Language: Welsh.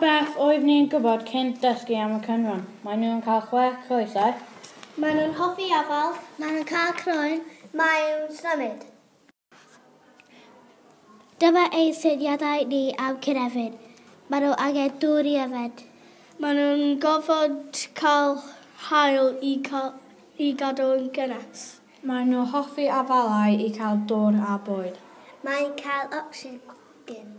Pa beth oeddwn i yn gwybod cyn dysgu am y cynwron? Maen nhw yn cael chwe coesau. Maen nhw'n hoffi afael. Maen nhw'n cael croen. Maen nhw'n symud. Dyma ein syniadau ni am cynefin. Maen nhw angen dŵr i yfed. Maen nhw'n gorfod cael haul i gadw yn gynnes. Maen nhw'n hoffi afalau i cael dŵr a bwyd. Mae'n cael ocsigen.